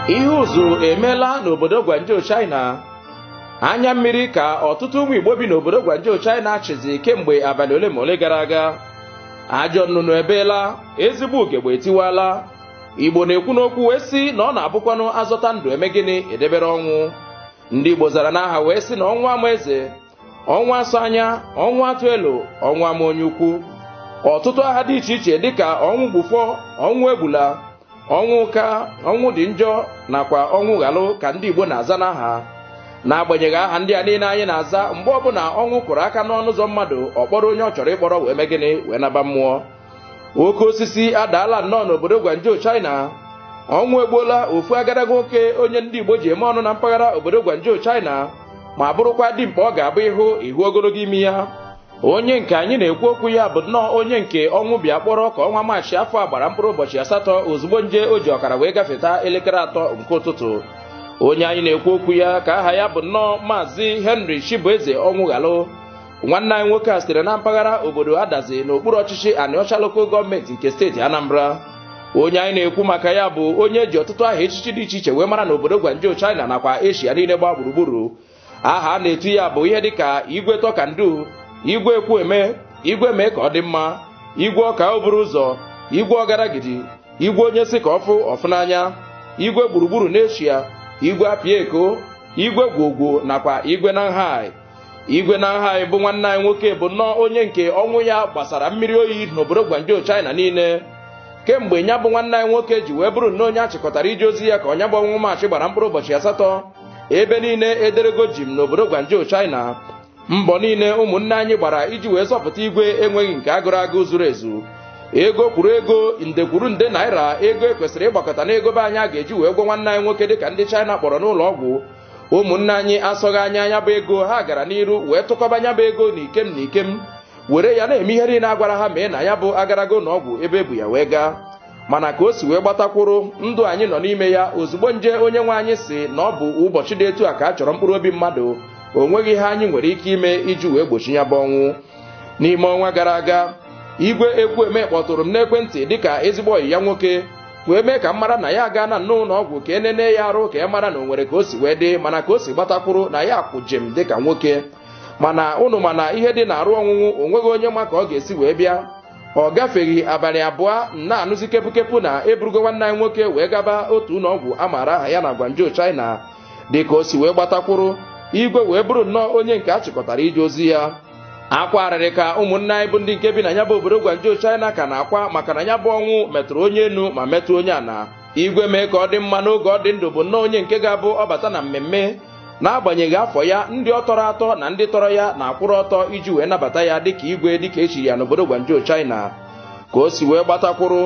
ihe ụzụ emeela n'obodo Gwanjo China anya mmiri ka ọtụtụ ụmụ Igbo bi n'obodo Gwanjo China chịzi kemgbe abalị ole ma ole gara aga ajọ nnụnụ ebeela ezigbo ugegbe etiwala Igbo na-ekwu n'okwu wee sị na ọ na-abụkwanụ azọta ndụ eme gịnị edebere ọnwụ ndị Igbo zara n'aha wee sị na ọnwụ ama eze ọnwụ asọ anya ọnwụ atụ elo ọnwụ ama onye ukwu ọtụtụ aha dị iche iche dịka ọnwụ gbufọ ọnwụ egbula ọnwụ ụka ọnwụ dị njọ nakwa ọnwụ ghalụ ka ndị Igbo na-aza n'aha n'agbanyeghị aha ndị a niile anyị na-aza mgbe ọbụla ọnwụ kụrụ aka n'ọnụ ụzọ mmadụ ọ kpọrọ onye ọ chọrọ ịkpọrọ wee mee gịnị wee naba mmụọ oke osisi adaala nnọọ n'obodo Gwanjo China ọnwụ egbuola ofu agadaga nwoke onye ndị Igbo ji eme ọnụ na mpaghara obodo Gwanjo China ma bụrụkwa dimkpa ọ ga-abụ ịhụ ịhụ ogologo imi ya onye nke anyị na-ekwu okwu ya bụ nnọọ onye nke ọnwụ bịa kpọrọ ka ọnwa maachị afọ a gbara mkpụrụ ụbọchị asatọ ozugbo nje o ji ọkara wee gafeta elekere atọ nke ụtụtụ onye anyị na-ekwu okwu ya ka aha ya bụ nnọọ maazị Henry Chibueze Ọnwụghalụ nwanne anyị nwoke a sitere na mpaghara obodo adazi n'okpuru ọchịchị anịọcha local gọọmenti nke steeti anambra onye anyị na-ekwu maka ya bụ onye eji ọtụtụ aha echichi dị iche iche wee mara n'obodo gwanjo china nakwa eshia niile gbaa gburugburu aha a na-etu ya bụ ihe dịka igwe talk and do igwe ekwueme igwe mee ka ọ dị mma igwe ọka oburu ụzọ igwe ọgaragidi igwe onye sị ka ọ fụ ọ fụ n'anya igwe gburugburu n'eshia igwe apịa eko igwe gwogwo nakwa igwe nanhai igwe nanhai bụ nwanne anyị nwoke bụ nnọọ onye nke ọnwụ ya gbasara mmiri oyi n'obodo gwanjo china niile kemgbe nya bụ nwanne anyị nwoke ji wee bụrụ nnọọ onye achịkọtara ije ozi ya ka nya bụ ọnwa maachị gbara mkpụrụ ụbọchị asatọ ebe niile ederego jim n'obodo gwanjo china mbọ niile ụmụnne anyị gbara iji wee zọpụta igwe enweghị nke agụrụ agụ zuru ezu ego kwuru ego nde kwuru nde naira ego ekwesịrị ịgbakọta n'ego be anyị a ga-eji wee gwọ nwanne anyị nwoke dịka ndị china kpọrọ n'ụlọ ọgwụ ụmụnne anyị asọghị anya nya bụ ego ha gara n'iru wee tụkọba nya bụ ego na ikem na ikem were ya na-eme ihe niile agwara ha mee na nya bụ agadaga ụnọ ọgwụ ebe ebu ya wee gaa mana ka o si wee gbatakwụrụ ndụ anyị nọ n'ime ya ozugbo nje onye nwe anyị sị na ọ bụ ụbọchị dị etu a ka a chọrọ mkpụrụ obi mmadụ o nweghị ihe anyị nwere ike ime iji wee gbochie nya bụ ọnwụ n'ime ọnwa gara aga igwe ekwueme kpọtụrụ m n'ekwentị dịka ezigbo ọyị ya nwoke wee mee ka m mara na ya agaana nnọọ ụlọ ọgwụ ka enene ya arụ ka e mara na o nwere ka o si wee dị mana ka o si gbatakwụrụ na ya kwụ jim dịka nwoke mana ụnụ ma na ihe dị n'arụ ọnwụnwụ onweghị onye ma ka ọ ga-esi wee bịa ọ gafeghị abalị abụọ a na-anụzi kepukepu na eburugo nwanne anyị nwoke wee gaba otu ụlọ ọgwụ a maara aha ya na Gwanjo China dịka o si wee gbatakwụrụ igwe wee bụrụ nnọọ onye nke a chịkọtara ije ozi ya akwa arịrị ka ụmụnne anyị bụ ndị nke bi na ya bụ obodo Guangzhou China ka na-akwa maka na ya bụ ọnwụ metụrụ onye enu ma metụ onye ana igwe mee ka ọ dị mma n'oge ọ dị ndụ bụ nnọọ onye nke ga-abụ ọ bata na mmemme n'agbanyeghị afọ ya ndị ọ tọrọ atọ na ndị tọrọ ya na-akwụrụ ọtọ iji wee nabata ya dịka igwe dịka echiri ya n'obodo Guangzhou China ka o si wee gbatakwuru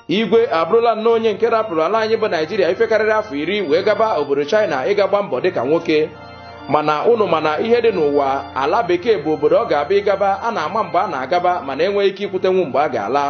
igwe abụrụla nnọọ onye nke rapụrụ ala anyị bụ naijiria ife karịrị afọ iri wee gaba obodo china ịga gba mbọ dịka nwoke mana ụnụ ma na ihe dị n'ụwa ala bekee bụ obodo ọ ga-abụ ị gaba a na-ama mgbe a na-agaba mana enweghị ike ikwutenwu mgbe a ga-ala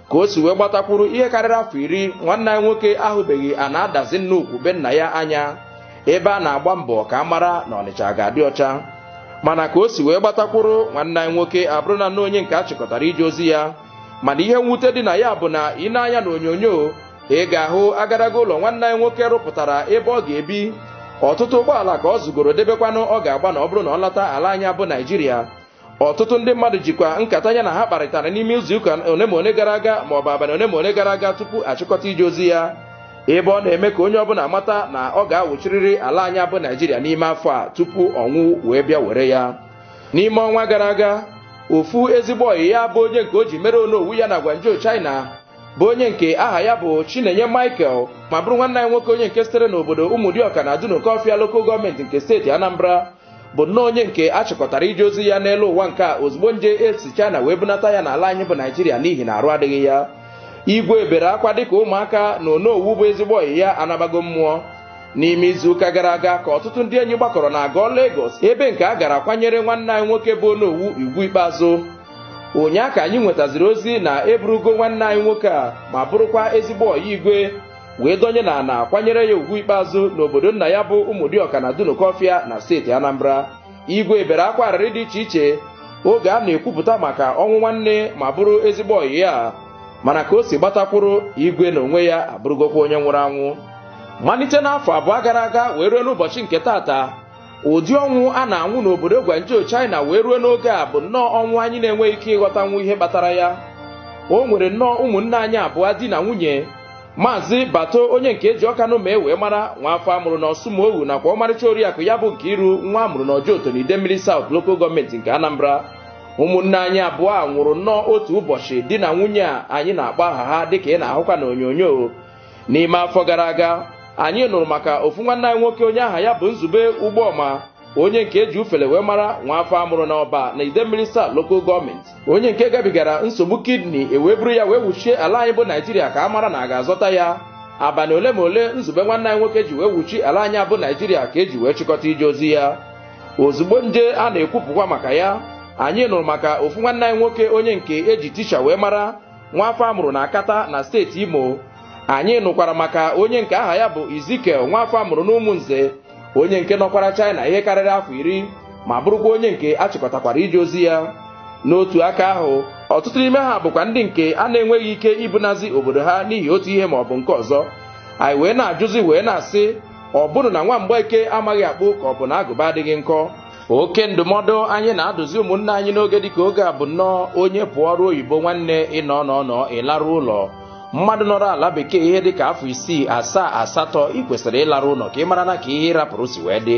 ka o si wee gbatakwuru ihe karịrị afọ iri nwanne anyị nwoke ahụbeghị ana Adazi Nnukwu be nna ya anya ebe a na-agba mbọ ka a mara na ọnịcha ga-adị ọcha mana ka o si wee gbatakwuru nwanne anyị nwoke abụrụna nnọọ onye nke a chịkọtara ije ozi ya mana ihe mwute dị na ya bụ na i nee anya na onyonyo ị ga-ahụ agadaga ụlọ nwanne anyị nwoke rụpụtara ebe ọ ga-ebi ọtụtụ ụgbọala ka ọ zụgoro debekwanụ ọ ga-agba na ọ bụrụ na ọ lata ala anyị a bụ naijiria ọtụtụ ndị mmadụ jikwa nkata ya na ha kparịtara n'ime izuụka one ma one gara aga ma ọ bụ abalị one ma one gara aga tupu achịkọta ije ozi ya ebe ọ na-eme ka onye ọbụla mata na ọ ga-awụchirịrị ala anyị a bụ naijiria n'ime afọ a tupu ọnwụ wee bịa were ya n'ime ọnwa gara aga ofu ezigbo ọyị ya bụ onye nke o ji mere onowu ya na Guangzhou China bụ onye nke aha ya bụ Chinenye Michael ma bụrụ nwanne anyị nwoke onye nke sitere n'obodo Ụmụdịọka na Dunukọfịa lokal gọọmenti nke steeti Anambra bụ nnọọ onye nke a chịkọtara ije ozi ya n'elu ụwa nke a ozugbo nje esi China wee bunata ya n'ala anyị bụ Naijiria n'ihi na arụ adịghị ya igwe bere akwa dịka ụmụaka na onowu bụ ezigbo ọyị ya anabago mmụọ n'ime izuụka gara aga ka ọtụtụ ndị enyi gbakọrọ na Agọ Lagos ebe nke a gara kwanyere nwanne anyị nwoke bụ onowu ugwu ikpeazụ ụnyaa ka anyị nwetaziri ozi na eburugo nwanne anyị nwoke a ma bụrụkwa ezigbo ọyị igwe wee donye na ana kwanyere ya ugwu ikpeazụ n'obodo nna ya bụ ụmụdịọka na dunukọfịa na steeti anambra igwe bere akwa arịrị dị iche iche oge a na-ekwupụta maka ọnwụ nwanne ma bụrụ ezigbo ọyị ya mana ka o si gbatakwuru igwe na onwe ya abụrụgokwa onye nwụrụ anwụ malite n'afọ abụọ gara aga wee ruo n'ụbọchị nke taata ụdị ọnwụ a na-anwụ n'obodo Guangzhou China wee ruo n'oge a bụ nnọọ ọnwụ anyị na-enweghị ike ịghọtanwu ihe kpatara ya o nwere nnọọ ụmụnne anyị abụọ di na nwunye maazị bato onye nke eji Ọkanụmee wee mara nwa afọ amụrụ na Ọsụmoghu nakwa ọmarịcha oriakụ ya bụ Nkiru nwa amụrụ na Ojoto na Idemmili South lokal gọọmenti nke anambra ụmụnne anyị abụọ a nwụrụ nnọọ otu ụbọchị di na nwunye a anyị na-akpọ aha ha dịka ị na-ahụkwa na onyonyo n'ime afọ gara aga anyị nụrụ maka ofu nwanne anyị nwoke onye aha ya bụ nzube ụgbọma onye nke eji ufele wee mara nwa afọ amụrụ n'ọba na idemmili south lokal gọọmenti onye nke gabigara nsogbu kidney ewee buru ya wee wuchie ala anyị bụ naijiria ka a mara na a ga-azọta ya abalị ole ma ole nzube nwanne anyị nwoke ji wee wuchi ala anyị a bụ naijiria ka eji wee chịkọta ije ozi ya ozugbo nje a na-ekwupụkwa maka ya anyị nụrụ maka ofu nwanne anyị nwoke onye nke eji tisha wee mara nwafọ amụrụ na akata na steeti imo anyị nụkwara maka onye nke aha ya bụ ezekiel nwafọ amụrụ n'ụmụnze onye nke nọkwara china ihe karịrị afọ iri ma bụrụkwa onye nke a chịkọtakwara ije ozi ya n'otu aka ahụ ọtụtụ n'ime ha bụkwa ndị nke a na-enweghị ike ibunazi obodo ha n'ihi otu ihe ma ọ bụ nke ọzọ anyị wee na-ajụzi wee na-asị ọ bụnụ na nwa mgbeke amaghị akpụ ka ọ bụ na agụba adịghị nkọ oke ndụmọdụ anyị na-adụzi ụmụnne anyị n'oge dịka oge a bụ nnọọ onye pụọ ọrụ oyibo nwanne ị nọọ nọọ nọọ ịlarụ ụlọ mmadụ nọrọ ala bekee ihe dịka afọ isii asaa asatọ ị kwesịrị ịlarụ ụlọ ka ị mara na ka ihe ị rapụrụ si wee dị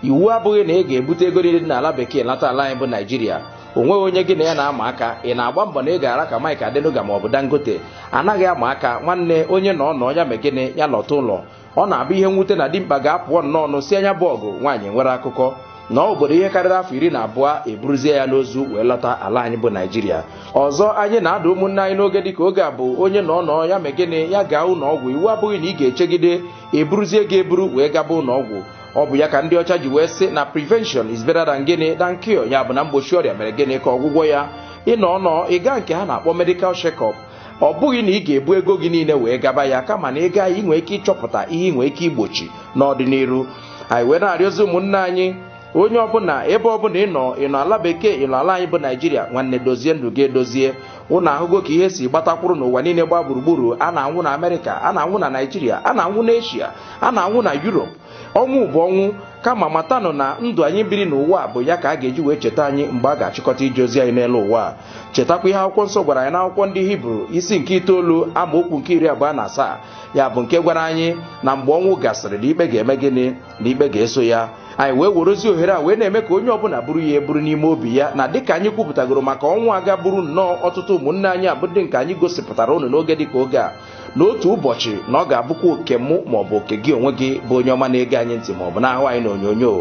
iwu abụghị na ị ga-ebute ego niile dị n'ala bekee lata ala anyị bụ naijiria onweghị onye gị na ya na-ama aka ị na-agba mbọ na ị ga-ara ka Mike Adenuga ma ọ bụ Dangote anaghị ama aka nwanne onye nọọ nọọ ya mee gịnị ya lọta ụlọ ọ na-abụ ihe mwute na dimkpa ga-apụọ nnọọ nụsịa nya bụ ọgụ nwaanyị enwere akụkọ nọọ obodo ihe karịrị afọ iri na abụọ eburuzie ya n'ozu wee lọta ala anyị bụ naijiria ọzọ anyị na-adụ ụmụnne anyị n'oge dịka oge a bụ onye nọọ nọọ ya mee gịnị ya gaa ụlọ ọgwụ iwu abụghị na ị ga-echegide eburuzie gị eburu wee gaba ụlọ ọgwụ ọ bụ ya ka ndị ọcha ji wee sị na prevention is better than gịnị than cure ya bụ na mgbochi ọrịa mere gịnị ka ọgwụgwọ ya ị nọọ nọọ ị gaa nke ha na-akpọ medical check-up ọ bụghị na ị ga-ebu ego gị niile wee gaba ya kama na ị gaa ya ị nwee ike ịchọpụta ihe ị nwee ike igbochi n'ọdịnihu anyị wee na-arịọzi ụmụnne anyị onye ọbụla ebe ọbụla ịnọ ịnọ ala bekee ịnọ ala anyị bụ naijiria nwanne dozie ndụ gị edozie ụnụ ahụgo ka ihe si gbatakwuru n'ụwa niile gba gburugburu a na-anwụ na amerịka a na-anwụ na naijiria a na-anwụ na eshia a na-anwụ na yurop ọnwụ bụ ọnwụ kama matanụ na ndụ anyị biri n'ụwa bụ ya ka a ga-eji wee cheta anyị mgbe a ga-achịkọta ije ozi anyị n'elu ụwa chetakwa ihe akwụkwọ nsọ gwara anyị n'akwụkwọ ndị hibru isi nke itoolu amaokwu nke iri abụọ na asaa ya bụ nke gwara anyị na mgbe ọnwụ gasịrị na ikpe ga-eme gịnị na ikpe ga-eso ya anyị wee werezi ohere a wee na-eme ka onye ọbụla buru ya eburu n'ime obi ya na dịka anyị kwupụtagoro maka ọnwụ a ga buru nnọọ ọtụtụ ụmụnne anyị a bụ ndị nke anyị gosipụtara ụnụ n'oge dịka oge a n'otu ụbọchị na ọ ga-abụkwa oke mụ maọbụ oke gị onwe gị bụ onye ọma na-ege anyị ntị maọbụ na-ahụ anyị n'onyonyo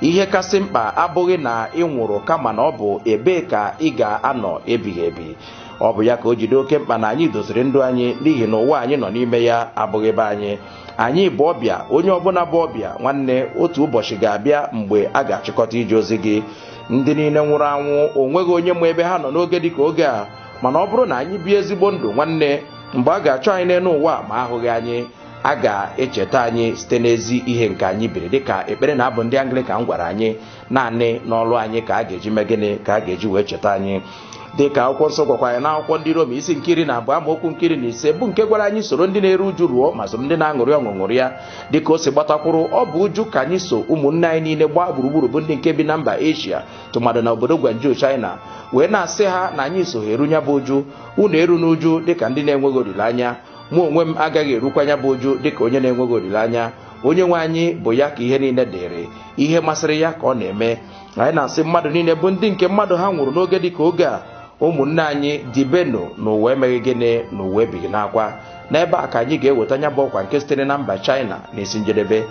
ihe kasị mkpa abụghị na ị nwụrụ kama na ọ bụ ebee ka ị ga-anọ ebighị ebi ọ bụ ya ka o ji dị oke mkpa na anyị doziri ndụ anyị n'ihi na ụwa anyị nọ n'ime ya abụghị ebe anyị anyị bụ ọbịa onye ọbụla bụ ọbịa nwanne otu ụbọchị ga-abịa mgbe a ga-achịkọta ije ozi gị ndị niile nwụrụ anwụ onweghị onye ma ebe ha nọ n'oge dịka oge a mana ọ bụrụ na anyị bie ezigbo ndụ nwanne mgbe a ga-achọ anyị n'elu ụwa ma ahụghị anyị a ga-echeta anyị site n'ezi ihe nke anyị biri dịka ekpere na abụ ndị anglikan gwara anyị naanị n'ọlụ anyị ka a ga-eji mee gịnị ka a ga-eji wee cheta anyị dịka akwụkwọ nsọ gwakwa anyị n'akwụkwọ ndị Rom isi nke iri na abụọ amaokwu nke iri na ise bụ nke gwara anyị soro ndị na-eru uju ruo ma soro ndị na-aṅụrị ọṅụ ṅụrịa dịka o si gbatakwuru ọ bụ uju ka anyị so ụmụnne anyị niile gbaa gburugburu bụ ndị nke bi na mba Asia tụmadụ na obodo Guangzhou China wee na-asị ha na anyị so ha eru nya bụ uju unu eruna uju dịka ndị na-enweghị olileanya mụ onwe m agaghị erukwa nya bụ uju dịka onye na-enweghị olileanya onye nwe anyị bụ ya ka ihe niile dịrị ihe masịrị ya ka ọ na-eme anyị na-asị mmadụ niile bụ ndị nke mmadụ ha nwụrụ n'oge dịka oge a ụmụnne anyị dibenụ n'ụwa emeghị gịnị n'ụwa ebighị n'akwa n'ebe a ka anyị ga-eweta nya bụ ọkwa nke sitere na mba China n'isi njedebe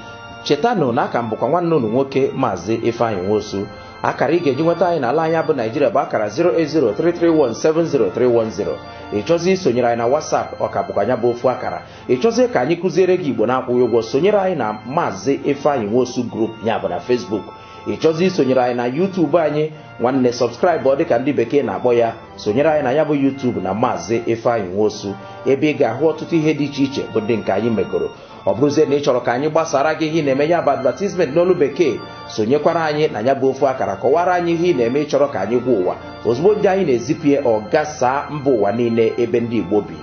chetanụ na aka m bụkwa nwanne unu nwoke maazị Ifeanyị Nwosu akara ị ga-eji nweta anyị n'ala anyị bụ Naijiria bụ akara 08033170310 ị chọzi isonyere anyị na WhatsApp ọ ka bụkwa nya bụ ofu akara ị chọzie ka anyị kụziere gị Igbo na-akwụghị ụgwọ sonyere anyị na maazị Ifeanyị Nwosu group ya bụ na Facebook ị chọzi isonyere anyị na YouTube anyị nwanne subscribe ọ dịka ndị bekee na-akpọ ya sonyere anyị na nya bụ YouTube na maazị Ifeanyị Nwosu ebe ị ga-ahụ ọtụtụ ihe dị iche iche bụ ndị nke anyị megoro ọ bụrụzie na ị chọrọ ka anyị gbasara gị ihe ị na-eme ya bụ advertisement n'olu bekee sonyekwara anyị na nya bụ ofu akara kọwara anyị ihe ị na-eme ị chọrọ ka anyị gwa ụwa ozugbo ndị anyị na-ezipụ ya ọ gasaa mba ụwa niile ebe ndị Igbo bi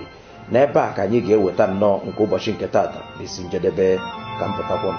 n'ebe a ka anyị ga-eweta nnọọ nke ụbọchị nke taata n'isi njedebe ka m pụtakwa m